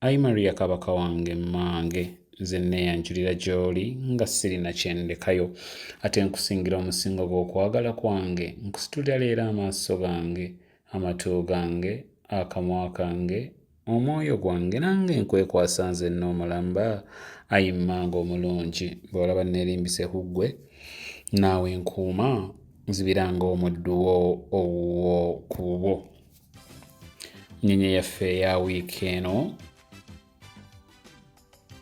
Ayi Maria Kabaka wange mmange nze nneeyanjulira gy'oli nga sirina kye ndekayo ate nkusingira omusingo gw'okwagala kwange nkusitulira leero amaaso gange amatu gange akamwa kange omwoyo gwange nange nkwekwasa nze nnoomulamba ayi mmange omulungi bw'olaba nneerimbise ku ggwe naawe nkuuma nzibira ng'omuddu wo owuwo ku bwo nyenye yaffe eya wiiki eno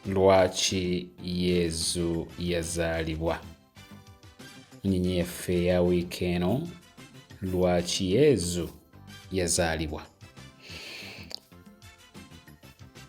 lwaki yezu yazaalibwa nyenye yaffe eya wiiki eno lwaki yezu yazaalibwa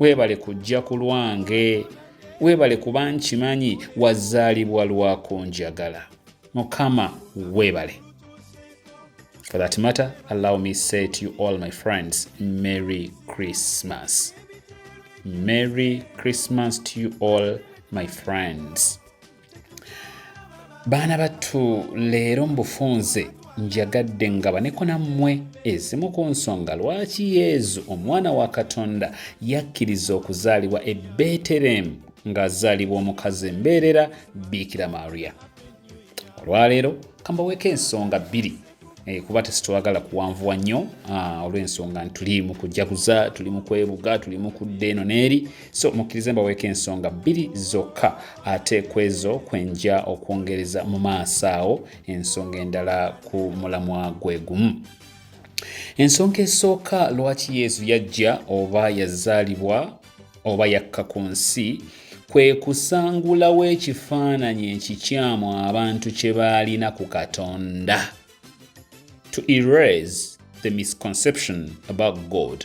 webale kujja ku lwange webale kuba nkimanyi wazaalibwa lwakunjagala mukama webale for that matter allow me say to you all my friends merry christmas merry christmas to you all my friends baana battu leero mu bufunze njagadde ngabaneko nammwe ezimu ku nsonga lwaki yezu omwana wa katonda yakkiriza okuzaalibwa e beterehemu ng'azaalibwa omukazi embeerera biikira maria olwaleero kambaweeko ensonga bbiri Eh, kuba tesitwagala kuwanvuwa nnyo ah, olw'ensonga nti tuli mu kujaguza tuli mu kwebuga tuli mu kudda eno n'eri so mukkirize mbaweeko ensonga bbiri zokka ate ku ezo kwenja okwongereza mu maaso awo ensonga endala ku mulamwa gwe gumu ensonga esooka lwaki yesu yajja oba yazaalibwa oba yakka ku nsi kwe kusangulawo ekifaananyi ekikyamu abantu kye baalina ku katonda to erase the misconception about god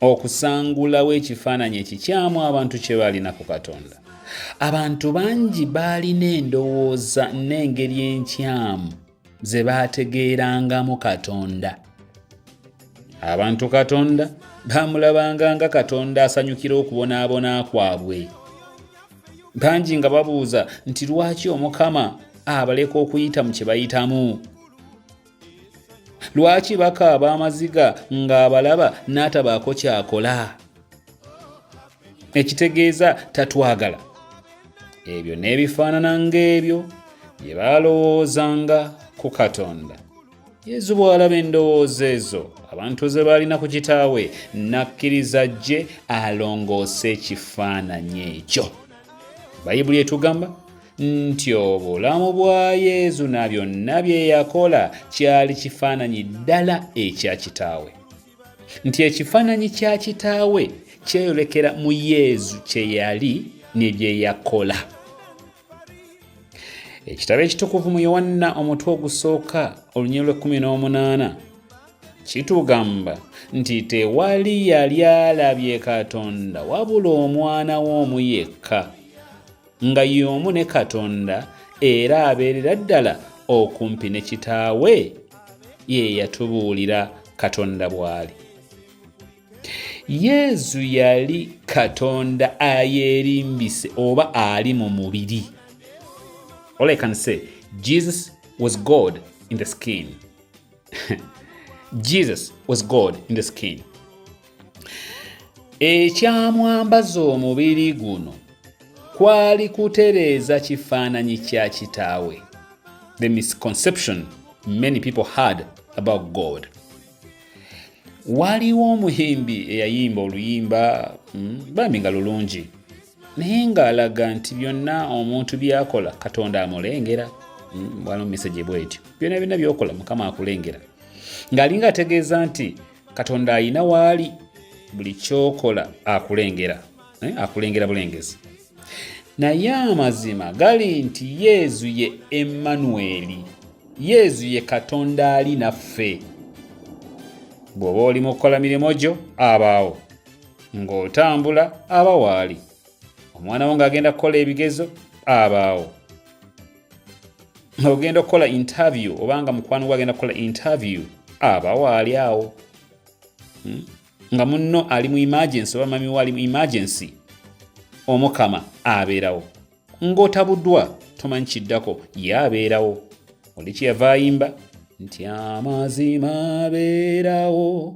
okusangulawo ekifaananyi ekikyamu abantu kye baalina ku katonda abantu bangi baalina endowooza n'engeri enkyamu ze baategeerangamu katonda abantu katonda baamulabanga nga katonda asanyukira okubonaabona kwabwe bangi nga babuuza nti lwaki omukama abaleka okuyita mu kye bayitamu lwaki bakaaba amaziga ng'abalaba n'atabaako kyakola ekitegeeza tatwagala ebyo n'ebifaanana ng'ebyo bye baalowoozanga ku katonda yezu bw'alaba endowooza ezo abantu ze baalina ku kitaawe n'akkiriza gye alongoose ekifaananyi ekyo bayibuli etugamba nti obulamu bwa yezu na byonna bye yakola kyali kifaananyi ddala ekya kitaawe nti ekifaananyi kya kitaawe kyeyolekera mu yezu kye yali ne bye yakola ekitabo ekitukuvu mu yowanna omutwe ogusooka olunyiro lw'ekkumi n'omunaana kitugamba nti tewali yali alabye katonda wabula omwana we omu yekka nga y'omu ne katonda era abeerera ddala okumpi ne kitaawe ye yatubuulira katonda bw'ali yezu yali katonda ayeerimbise oba ali mu mubiri all i can say jesus was god in the skin jesus was god in the skin Ekyamwambaza omubiri guno kwali kutereeza kifaananyi kya kitaawe, the misconception many people had about God. Waliwo omuyimbi eyayimba oluyimba mm, bambi nga lulungi naye ng'alaga nti byonna omuntu byakola katonda amulengera mm, waliwo mesegi bwetyo byonna byonna byokola mukama akulengera ng'alinga ategeeza nti katonda ayina waali buli kyokola akulengera eh, akulengera bulengezi naye amazima gali nti yezu ye emmanueli yezu ye katonda ali naffe bw'oba oli mu kukola mirimu gyo abaawo ng'otambula aba waali omwana wo ng'agenda kukola ebigezo abaawo ogenda okukola interview obanga mukwano gwe agenda kukola interview aba waali awo hmm? nga munno ali mu emergency oba mamiwo ali mu emergency omukama abeerawo ng'otabuddwa tomanyi kiddako ye abeerawo oli kyeyava ayimba nti amazima abeerawo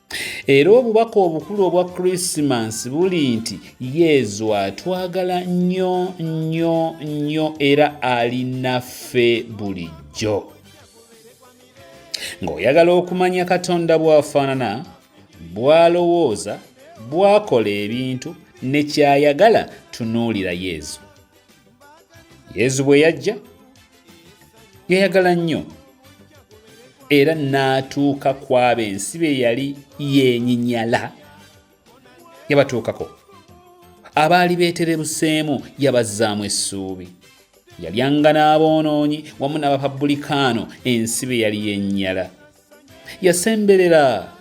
era obubaka obukulu obwa krisimansi buli nti yezu atwagala nnyo nnyo nnyo era ali naffe bulijjo ng'oyagala okumanya katonda bw'afaanana bw'alowooza bw'akola ebintu ne ky'ayagala tunuulira yezu yezu bwe yajja yayagala nnyo era n'atuuka ku abo ensi be yali yenyinyala yabatuukako abaali beeterebuseemu yabazzaamu essuubi yalyanga n'aboonoonyi wamu n'abapabulikaano ensi be yali yennyala yasemberera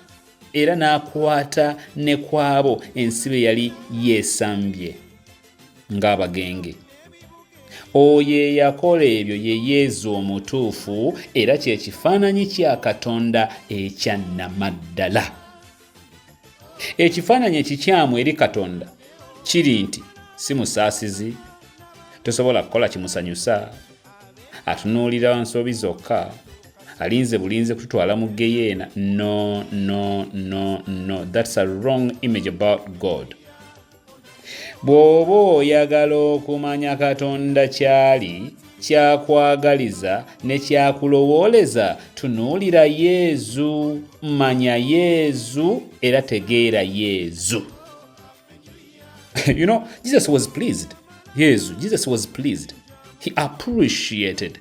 era n'akwata ne kwabo ensi be yali yeesambye ng'abagenge oyo eyakola ebyo ye yezu omutuufu era kye kifaananyi kya katonda ekyannamaddala Ekifaananyi ekikyamu eri Katonda kiri nti si musaasizi, tosobola kukola kimusanyusa, atunuulira nsobi zokka, alinze bulinze kututwala mu geyeena. No, no, no, no, that's a wrong image about God. Bw'oba oyagala okumanya Katonda ky'ali, ky'akwagaliza ne ky'akulowooleza, tunuulira Yezu, manya Yezu era tegeera Yezu. you know, Jesus was pleased. Yezu, Jesus was pleased. He appreciated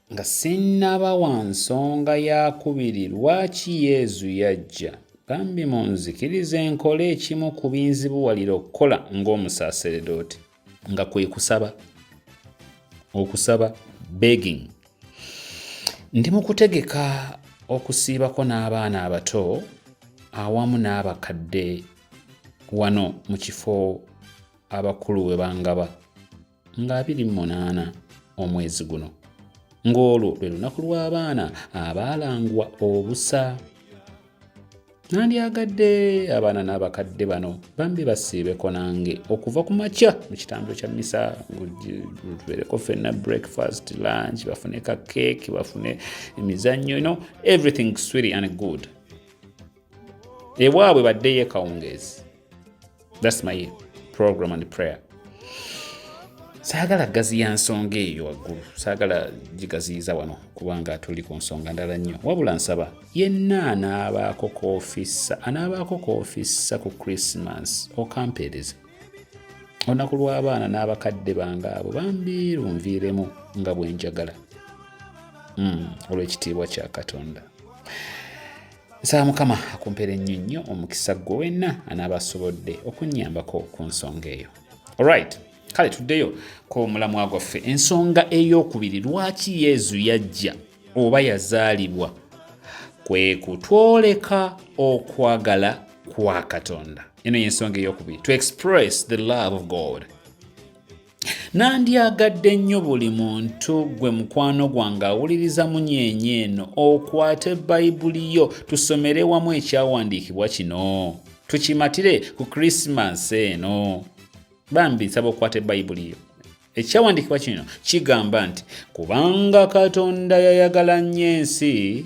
Nga sinnaba wa nsonga ya kubiri lwaki Yezu yajja, bambi munzikirize nkole ekimu ku binzibuwalira okukola ng'omusaaseredooti. Nga kwe kusaba, okusaba, begging. Ndi mu kutegeka okusiibako n'abaana abato awamu n'abakadde wano mu kifo abakulu we bangaba. nga 28 omwezi guno ng'olwo lwe lunaku lw'abaana abaalangwa obusa nandyagadde abaana n'abakadde bano bambi basiibeko nange okuva ku makya mu kitambiro kya misa tubeereko fenna breakfast lunch bafune ka keeki bafune emizannyo no everything swiri and good ewaabwe baddeyo ekawungeezi thats my program and prayer saagala gaziya nsonga eyo waggulu saagala gigaziyiza wano kubanga tuli ku nsonga ndala nnyo wabula nsaba yenna anaabaako koofissa anaabaako koofissa ku christmas okampeereze olunaku lw'abaana n'abakadde bange abo bambi lunviiremu nga bwe njagala hmm, olw'ekitiibwa kya katonda nsaba mukama akumpera ennyo nnyo omukisa gwe wenna anaaba asobodde okunnyambako ku nsonga eyo olright kale tuddeyo ku mulamwa gwaffe ensonga ey'okubiri lwaki yezu yajja oba yazaalibwa kwe kutwoleka okwagala kwa katonda eno y'ensonga ey'okubiri to express the love of god Nandyagadde nnyo buli muntu gwe mukwano gwange awuliriza munyeenya eno okwate Bayibuli yo tusomere wamu ekyawandiikibwa kino tukimatire ku Krisimansi eno. Bambi nsaba okwate Bayibuli yo. Ekyawandiikibwa kino kigamba nti, Kubanga Katonda yayagala nnyo ensi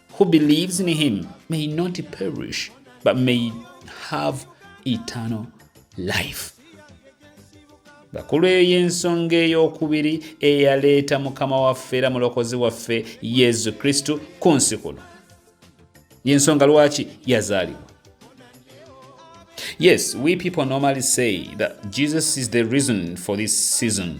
who believes in him may not perish but may have eternal life bakulu eyo y'ensonga ey'okubiri eyaleeta mukama waffe era mulokozi waffe yesu kristo ku nsi kuno yensonga lwaki yazaalibwa yes we people normally say that jesus is the reason for this season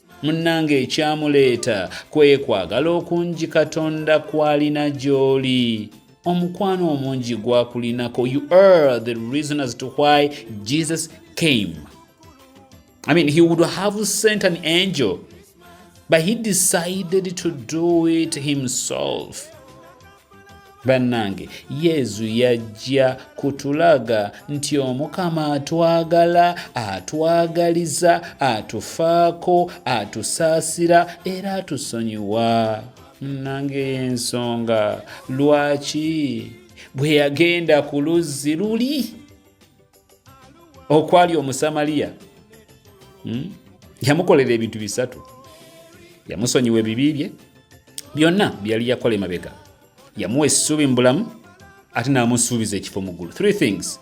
munnange ekyamuleeta kwekwagala okungi katonda kwalina gy'oli omukwano omungi gwakulinako you are the reason as to why jesus came i mean he would have sent an angel but he decided to do it himself bannange yezu yajja kutulaga nti omukama atwagala atwagaliza atufaako atusaasira era atusonyiwa munnange y'ensonga lwaki bwe yagenda ku luzzi luli okwali omusamaliya hmm? yamukolera ebintu bisatu yamusonyiwa ebibi bye byonna byeyali yakola emabega yamuwa essuubi mu bulamu ate n'amusuubiza ekifo mu ggulu three things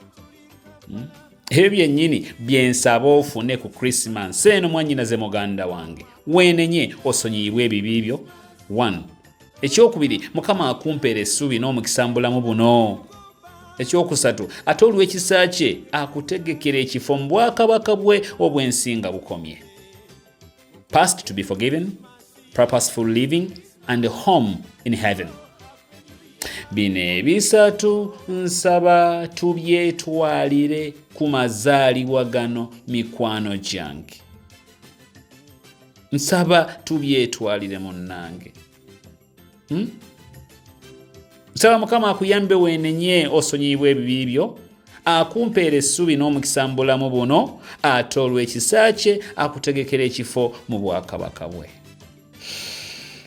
hmm? ebyo byennyini byensaba ofune ku krisimansi eno mwannyinaze muganda wange weenenye osonyiyibwa ebibi byo one ekyokubiri mukama akumpeera essuubi n'omukisa mu bulamu buno ekyokusatu ate olw'ekisa kye akutegekera ekifo mu bwakabaka bwe obw'ensinga bukomye past to be forgiven purposeful living and home in heaven bino ebisatu nsaba tubyetwalire ku mazaalibwa gano mikwano gyange nsaba tubyetwalire munnange hmm? nsaba mukama akuyambe wenenye osonyiyibwa ebibi byo akumpeera essuubi n'omukisa mu bulamu buno ate olw'ekisa kye akutegekera ekifo mu bwakabaka bwe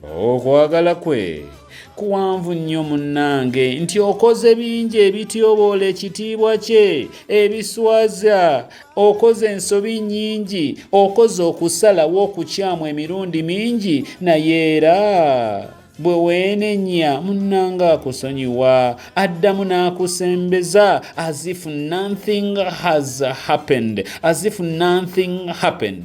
okwagala kwe kuwanvu nnyo munnange nti okoze bingi ebityoboola ekitiibwa kye ebiswaza okoze ensobi nnyingi okoze okusalawo okukyamu emirundi mingi naye era bwe weenenya munnanga akusonyiwa addamu n'akusembeza as if nothing has happened as if nothing happened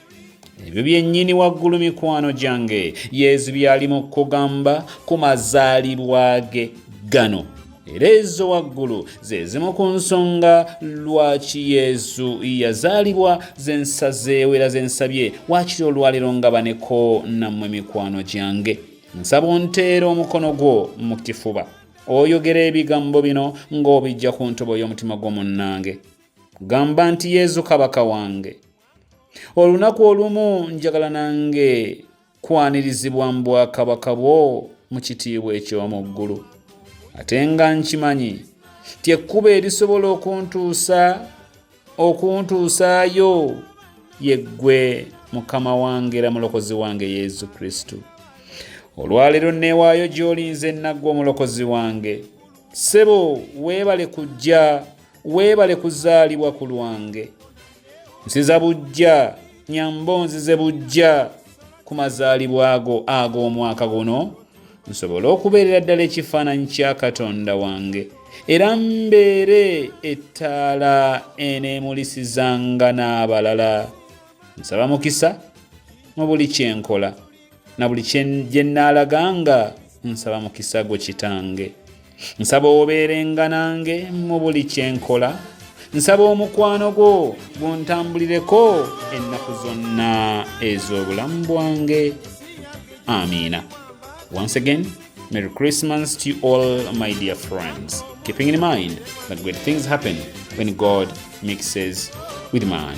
ebyo byennyini waggulu mikwano gyange yezu byali mu kugamba ku mazaalibwa ge gano era ezo waggulu ze zimu ku nsonga lwaki yezu yazaalibwa ze nsazeewo era ze nsabye waakiri olwaleero nga baneko nammwe mikwano gyange nsaba onteera omukono gwo mu kifuba oyogera ebigambo bino ng'obijja ku ntobo y'omutima gw'omunnange gamba nti yezu kabaka wange olunaku olumu njagala nange kwanirizibwa mu bwakabaka bwo mu kitiibwa eky'omu ggulu ate nga nkimanyi ti ekkuba erisobola okuntuusa okuntuusaayo yeggwe mukama wange era mulokozi wange yesu kristo olwaleero neewaayo gy'olinze nnaggwa omulokozi wange ssebo weebale kujja weebale kuzaalibwa ku lwange nsiza bujja nyambo nzize bujja ku mazaalibwa ago ag'omwaka guno nsobole okubeerera ddala ekifaananyi kya katonda wange era mbeere ettaala eneemulisizanga n'abalala nsaba mukisa mu buli kyenkola na buli gye nnaalaga nga nsaba mukisa gwo kitange nsaba obeerenga nange mu buli kye nkola nsaba omukwano gwo guntambulireko ennaku zonna ez'obulamu bwange amiina once again merry christmas to all my dear friends keeping in mind that great things happen when god mixes with man